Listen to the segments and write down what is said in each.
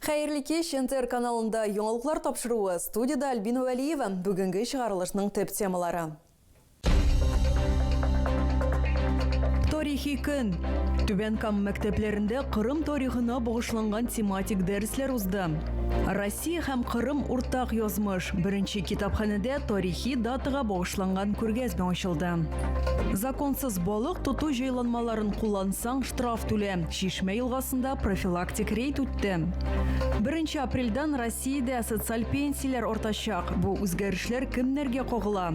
Хәерле кич! НТР каналында яңалыклар тапшыруы, студиядә Альбина Вәлиева. Бүгенге чыгарылышның төп темалары. Тарихи көн! Түбән Кама мәктәпләрендә Кырым тарихына багышланган тематик дәресләр узды. Россия һәм Кырым уртак язмыш беренче китапханәдә тарихи датага багышланган күргәзмә ачылды. Законсыз балык тоту җайланмаларын куллансаң, штраф түлә. Чишмә елгасында профилактик рейд үтте. Беренче апрельдән Россиядә социаль пенсияләр артачак. Бу үзгәрешләр кемнәргә кагыла?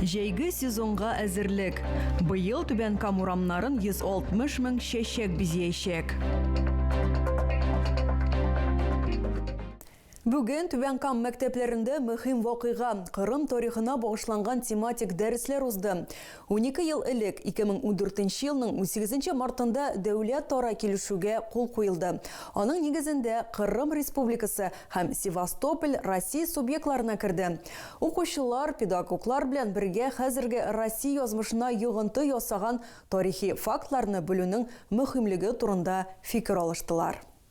Җәйге сезонга әзерлек. Быел Түбән Кама урамнарын 160 мең чәчәк бизиячәк. Бүген Түбән Кама мәктәпләрендә мөһим вакыйга, Кырым тарихына багышланган тематик дәресләр узды. Унике ел элек, 2014 елның унсигезенче мартында дәүләтара килешүгә кул куелды. Аның нигезендә Кырым Республикасы һәм Севастополь Россия субъектларына керде. Укучылар, педагоглар белән бергә хәзерге Россия язмышына йогынты ясаган тарихи фактларны белүнең мөһимлеге турында фикер алыштылар.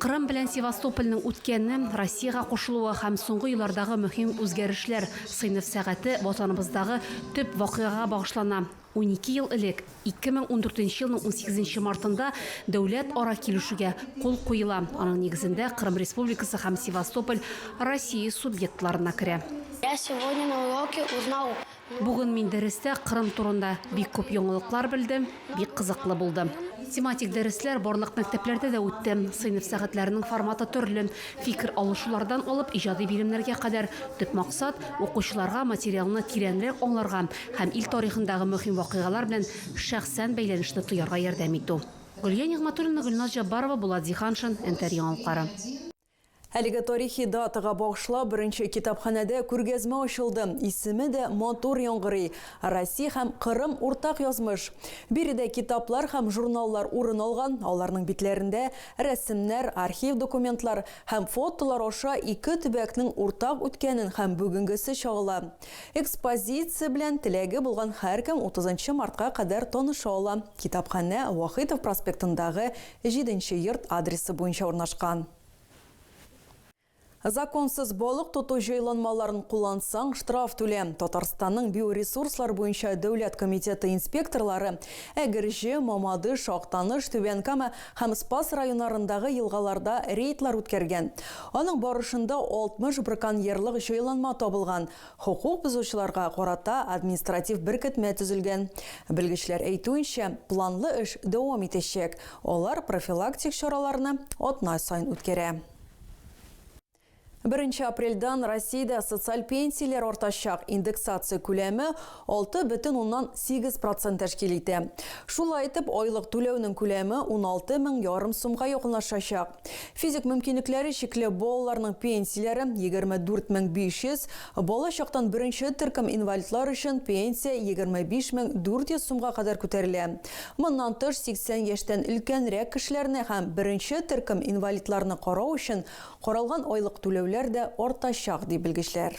Кырым белән Севастопольнең үткәне, Россиягә кушылуы һәм соңгы еллардагы мөһим үзгәрешләр Сыйныф сәгате ватаныбыздагы төп вакыйгага багышлана. Унике ел элек, 2014 елның унсигезенче мартында дәүләт-ара килешүгә кул куела, аның нигезендә Кырым Республикасы һәм Севастополь Россия субъектларына керә. Я сегодня на уроке узнал Бүген мин дәрестә Кырым турында бик күп яңалыклар белдем, бик кызыклы булды. Тематик дәресләр барлык мәктәпләрдә дә үтте. Сыйныф сәгатьләренең форматы төрле, фикер алышулардан алып иҗади биремнәргә кадәр. Төп максат, укучыларга материалны тирәнрәк аңларга һәм ил тарихындагы мөһим вакыйгалар белән шәхсән бәйләнешне тоярга ярдәм итү. Гөлия Нигъмәтуллина, Гөлназ Җаббарова, Булат Зиһаншин, Нтр яңалыклары. Әлеге тарихи датага багышлап беренче китапханәдә күргәзмә ачылды. Исеме дә матур яңгырый, Россия һәм Кырым уртак язмыш. Биредә китаплар һәм журналлар урын алган, аларның битләрендә рәсемнәр, архив документлар һәм фотолар аша ике төбәкнең уртак үткәнен һәм бүгенгесе чагыла. Экспозиция белән теләге булган һәркем утызынчы мартка кадәр таныша ала, китапханә Вахитов проспектындагы Җиденче йорт адресы буенча урнашкан. Законсыз балык тоту җайланмаларын куллансаң, штраф түлә. Татарстанның Биоресурслар буенча дәүләт комитеты инспекторлары Әгерҗе, Мамадыш, Актаныш, Түбән Кама һәм Спас районарындагы елгаларда рейдлар үткәргән. Аның барышында 60 браконьерлык җайланма табылган, Хокук бозучыларга карата административ беркетмә төзелгән. Белгечләр әйтүенчә, планлы эш дәвам итәчәк, алар профилактик чараларны атна саен үткәрә. Беренче апрельдән Россиядә социаль пенсияләр артачак, индексация күләме 6,8 процент тәшкил итә. Шулай итеп, айлык түләүнең күләме 16 мең ярым сумга якынлашачак. Физик мөмкинлекләре чикле балаларның пенсияләре, 24 мең 500, бала чактан беренче төркем инвалидлар өчен пенсия 25 мең 400 сумга кадәр күтәрелә. Моннан тыш, 80 яшьтән өлкәнрәк кешеләрне һәм беренче төркем инвалидларны карау өчен каралган айлык түләүләр дә артачак, ди белгечләр.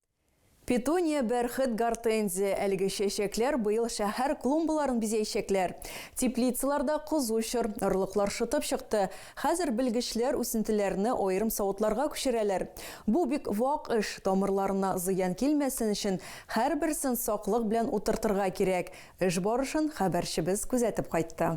Петуния, бәрхет, гортензия, әлеге чәчәкләр быел шәһәр клумбаларын бизәячәкләр. Теплицаларда кызу чор, орлыклар шытып чыкты. Хәзер белгечләр үсентеләрне аерым савытларга күчерәләр. Бу бик вак эш, тамырларына зыян килмәсен өчен, һәрберсен саклык белән утыртырга кирәк. Эш барышын хәбәрчебез күзәтеп кайтты.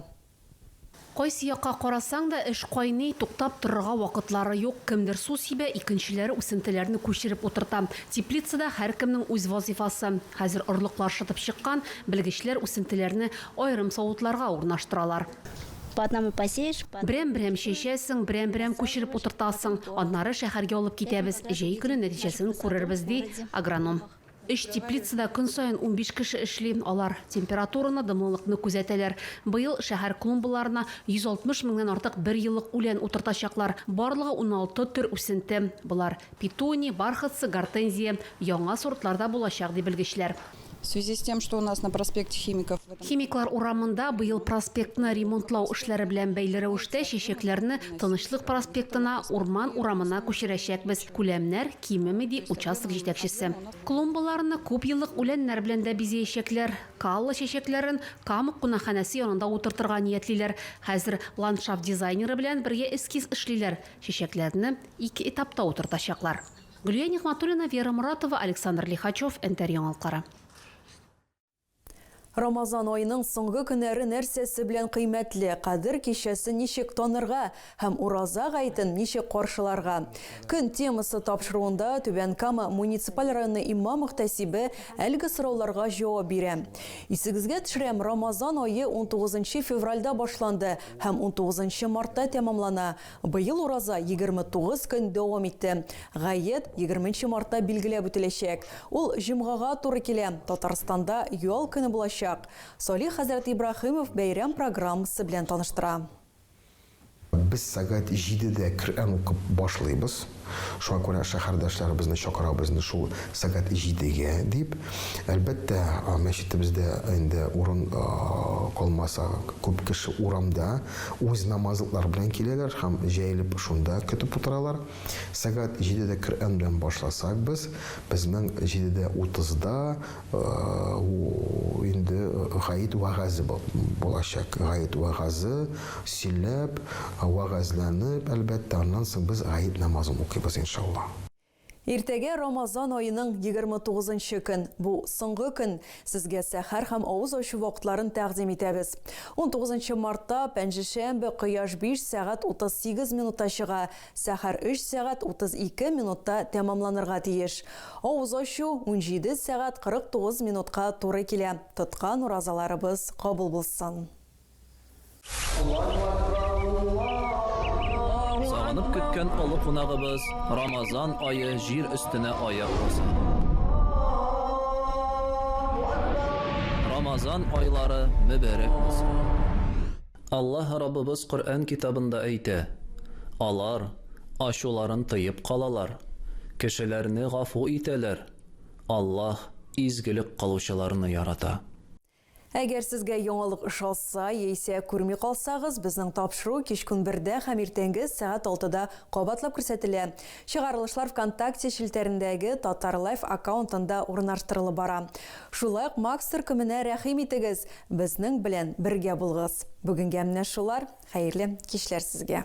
Кайсы якка карасаң да, эш кайный, туктап торырга вакытлары юк, кемдер су сибә, икенчеләре үсентеләрне күчереп утырта. Теплицада һәркемнең үз вазыйфасы. Хәзер орлыклар шытып чыккан, белгечләр үсентеләрне аерым савытларга урнаштыралар. Берәм-берәм чәчәсең, берәм-берәм күчереп утыртасың, аннары шәһәргә алып китәбез, җәй көне нәтиҗәсен күрербез, ди агроном. Өч теплицада көн саен унбиш кеше эшли, алар температураны, дымлылыкны күзәтәләр. Быел шәһәр клумбаларына 160 меңнән артык берьеллык үлән утыртачаклар. Барлыгы уналты төр үсенте. Болар, петуния, бархатцы, гортензия. Яңа сортлар да булачак, ди белгечләр. В связи с тем, что у нас на проспекте Химиков в этом. Химиклар урамында быел проспектны ремонтлау эшләре белән бәйле рәвештә чәчәкләрне Тынычлык проспектына, Урман урамына күчерәчәкбез. Күләмнәр кимеми, ди участок җитәкчесе. Клумбаларны күп еллык үләннәр белән дә бизәячәкләр. Каллы чәчәкләрен Камык кунакханәсе янында утыртырга ниятлиләр. Хәзер ландшафт дизайнеры белән бергә эскиз эшлиләр. Чәчәкләрне ике этапта утыртачаклар. Гөлия Нигъмәтуллина, Вера Моратова, Александр Лихачев, Нтр яңалыклары. Рамазан аеның соңгы көннәре нәрсәсе белән кыйммәтле, Кадер кичәсен ничек танырга һәм Ураза гаетен ничек каршыларга? Көн темасы тапшыруында Түбән Кама муниципаль районы имам-мөхтәсибе әлеге сорауларга җавап бирә. Исегезгә төшерәм, Рамазан ае унтугызынчы февральдә башланды һәм унтугызынчы мартта тәмамлана. Быел ураза егерме тугыз көн дәвам итте. Гает, егерменче мартта билгеләп үтеләчәк. Ул җомгага туры килә, Татарстанда ял көне булачак. Салих хәзрәт Ибраһимов бәйрәм программасы белән таныштыра. Без сәгать җидедә Коръән укып башлыйбыз. Шуңа күрә шәһәрдәшләребезне чакырабыз инде шул сәгать җидегә дип. Әлбәттә, мәчетебездә инде урын калмаса, күп кеше урамда үз намазлыклары белән киләләр һәм җәелеп шунда көтеп утыралар. Сәгать җидедә Коръән белән башласак без, безнең җидедә утызда Ул инде гает вәгазе булачак. Гает вәгазе сөйләп, вәгазьләнеп, әлбәттә, аннан соң без гает намазын укыйбыз, иншалла. Иртәгә Рамазан аеның егерме тугызынчы көн. Бу, соңгы көн. Сезгә сәхәр һәм авыз ачу вакытларын тәкъдим итәбез. Унтугызынчы мартта, пәнҗешәмбе, кояш биш сәгать утыз сигез минутта чыга, Сәхәр өч сәгать утыз ике минутта тәмамланырга тиеш. Авыз ачу унҗиде сәгать кырык тугыз минутка туры килә. Тоткан уразаларыбыз кабул булсын! Сагынып көткән олы кунагыбыз Рамазан ае җир өстенә аяк баса. Рамазан айлары мөбәрәк булсын! Аллаһ Раббыбыз Коръән китабында әйтә, Алар, ачуларын тыеп калалар, кешеләрне гафу итәләр, Аллаһ изгелек кылучыларны ярата. Әгәр сезгә яңалык ошаса, яисә күрми калсагыз, безнең тапшыру кичкун бердә һәм иртәнге сәгать алтыда кабатлап күрсәтелә. Чыгарылышлар ВКонтакте челтәрендәге Татарлайф аккаунтында урнаштырылып бара. Шулай ук Макс төркеменә рәхим итегез, безнең белән бергә булыгыз. Бүгенгә менә шулар, хәерле кичләр сезгә!